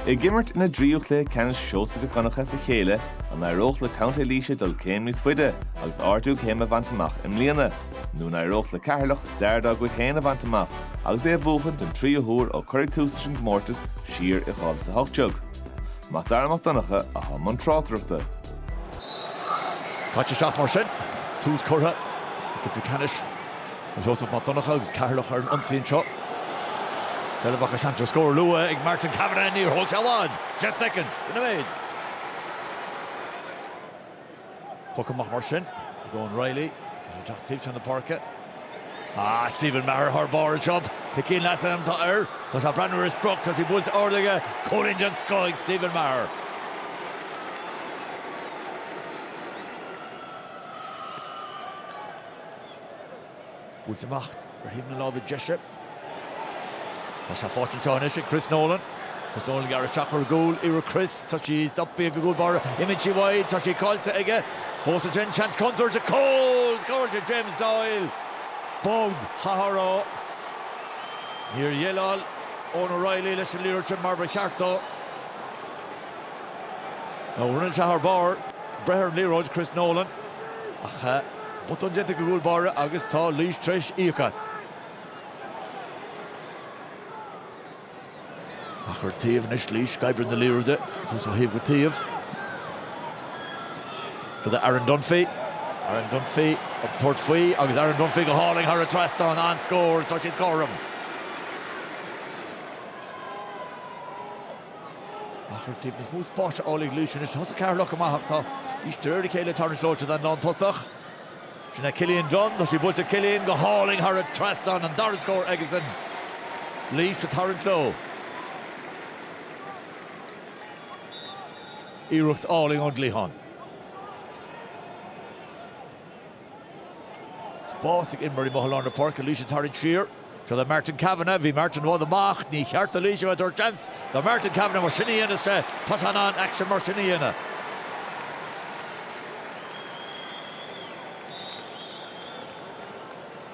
Ag imirt ina dtríú cluiche ceannais Seosamh Mhic Dhonncha as a chéile, an éireodh le Contae Laoise dul céim níos faide agus ardú céime a bhaint amach i mbliana, nó an éireodh le Ceatharlach stair dá gcuid féin a bhaint amach agus é a bhuachan den tríú huair ó cuireadh tús leis an gcomórtas siar i 2018? Mac Dara Mac Donncha atá i mbun tráchtaireachta. Caite isteach mar sin, tús curtha go cluiche ceannais. Joseph Mac Donncha agus Ceatharlach ar an ionsaí anseo. Seilbh acu seans ar scór luath ag Martin Kavanagh níor thóg sé i bhfad. Deich soicind imithe. Poc amach mar sin ag Eoin Reilly. Tá sé ag teacht taobh seo na páirce. Ah, Stephen Maher thar barr anseo. Tá cion leasa an t-ádh air. Tá sé ag breathnú ar a sprioc. Tá sí buailte ard aige. Cúilín den scoth ag Stephen Maher. Buailte amach ar thaobh na láimhe deise. Tá sé faighte anseo anois ag Chris Nolan. Chris Nolan ag gearradh isteach ar an gcúl. Iarracht Chris. Tá sí stoptha ag an gcúl báire. Imíonn sí uaidh. Tá sí caillte aige. Fós ansin, seans contúirt go cúl! Scóráilte James Doyle! Bog a thiarna ó. Níor dhéileáil Eoin O'Reilly leis an liathróid sin mar ba cheart dó. Nó rinne sé thar barr breith ar an liathróid, Chris Nolan, ach. botún déanta ag an gcúl báire agus tá Laois t'réis íoc as. Ach ar taobh anois Laois ag oibriú na liathróide suas ó thaobh go taobh. Chuig Aaron Dunphy Aaron Dunphy ag tabhairt faoi agus Aaron Dunphy go hálainn thar an trasnán an-scór tá siad cothrom. Ach ar taobh níos mó spáis le fáil ag Laois anois. Thosaigh Ceatharlach go maith ach tá Laois de réir a chéile ag tarraingt leo sa líne lántosach. Sin é Killian Dunne. Tá sé buailte ag Killian go hálainn thar an trasnán. An dara scór aigesan. Laois ag tarraingt leo. Iarracht álainn ón gcliathán. spás ag imreoirí i mbéal lár na páirce, Laois ag tarraingt siar. Seo le Martin Kavanagh, má bhí Martin i bhfad amach, ní cheart do Laois a bheith ag tabhairt seans do Martin Kavanagh mar sin a dhéanamh, tá sé in ann aicsean mar sin a dhéanamh.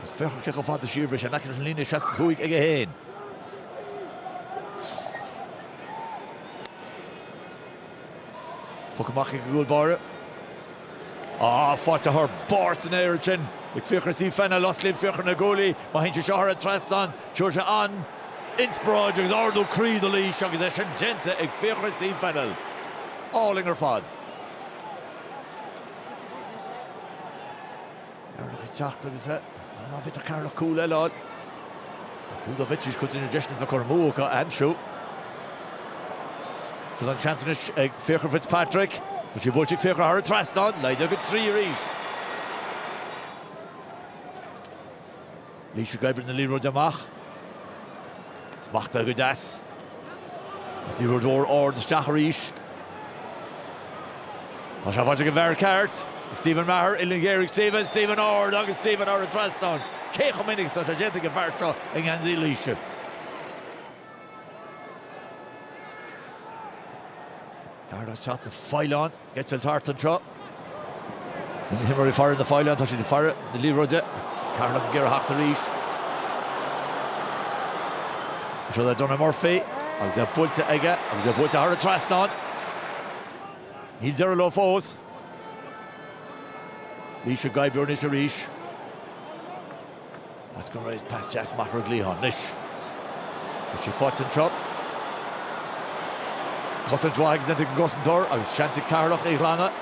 Is féach cé chomh fada siar bhí sé in aice leis an líne 65 aige féin. Puc amach ag an gcúl báire. Ah, faighte thar barr san aer ansin ag Fiachra C. Fennell. Osclaíonn Fiachra na guaillí, má théann sé seo thar an trasnán, tabharfaidh sé an-inspioráid agus ardú croí do Laois agus é sin déanta ag Fiachra C. Fennell. Álainn ar fad. Ceatharlach ag teacht agus an féidir le Ceatharlach cúl eile a fháil. Nó fiú dá mbeidís cuid de na deiseanna a cuireadh amú acu a aimsiú? Seo é an seans anois ag Fiachra Fitzpatrick. Tá sé buailte ag Fiachra thar an trasnán. Laghdaithe go trí arís. Laois ag oibriú na liathróide amach. Smachtaithe go deas. Agus liathróid mhór ard isteach arís. Tá sé faighte ag an bhfear ceart. Stephen Maher, uillinn ghéar ag Stephen, Stephen ard agus Stephen thar an trasnán. Cé chomh minic is atá sé déanta ag an bhfear seo i ngeansaí Laoise? Ceatharlach, tá na faoileáin. Ag eitilt thart anseo. Na himreoirí ag faire na bhfaoileán, tá siad ag faire na liathróide. Ceatharlach ag iarraidh teacht arís. Seo é Donagh Murphy agus é buailte aige agus é buailte thar an trasnán. Níl deireadh leo fós. Laois ag oibriú anois arís. Pas go réidh, pas deas amach ar an gcliathán. Anois, tá sé faighte anseo. Cosaint mhaith déanta ag an gcosantóir agus seans ag Ceatharlach é a ghlanadh.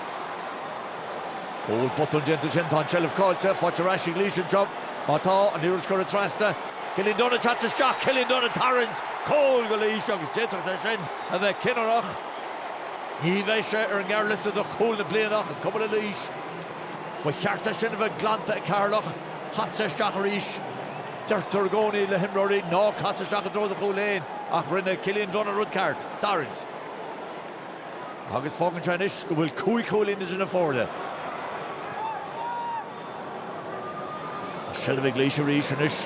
Ó bhuel botún déanta ansin, tá an tseilbh caillte, faighte ar ais ag Laois anseo. Má tá, tá an liathróid curtha trasna. Cillian Dunne ag teacht isteach, Cillian Dunne ag tarraingt! Cúl go Laois agus d'fhéadfadh sé sin a bheith cinniúnach. Ní bheidh sé ar an ngearrliosta do 'Cúl na Bliana' ach is cuma le Laois. Ba cheart é sin a bheith glanta ag Ceatharlach. Chas sé isteach arís. Deirtear i gcónaí le himreoirí 'Ná cas isteach i dtreo do chúil fhéin' ach rinne Cillian Dunne an rud ceart, tarraingt, agus fágann sé anois go bhfuil cúig chúilín idir na foirne. An seilbh ag Laois arís anois.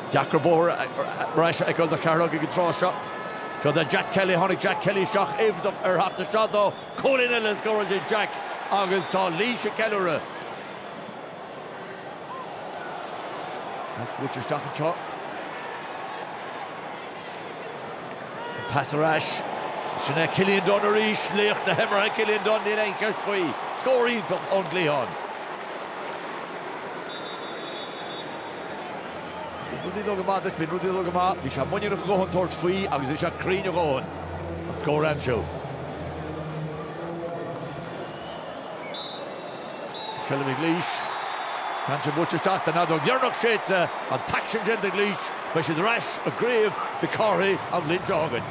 Deacair bóthar ar ais a fheiceáil do Cheatharlach ag an tráth seo. Seo é Jack Kelly. Tháinig Jack Kelly isteach, éifeachtach ar theacht isteach dó. Cúilín eile scóráilte ag Jack agus tá Laois ag ceiliúradh. Pas buailte isteach anseo. An pas ar ais. Sin é Cillian Dunne arís. Laoch na himeartha Cillian Dunne, níl aon cheist faoi. Scór iontach ón gcliathán. Nuair a bhíonn rudaí ag dul go maith duit, bíonn rudaí ag dul go maith. Bhí sé muiníneach a dhóthain tabhairt faoi agus bhí sé cruinn a dhóthain an scór a aimsiú. Seilbh ag Laois. Ceann eile buailte isteach, tá an fheadóg dheireanach séidte, tá an t-aicsean déanta ag Laois. Beidh siad ar ais i gCraobh Mhic Cárthaigh an bhliain seo chugainn.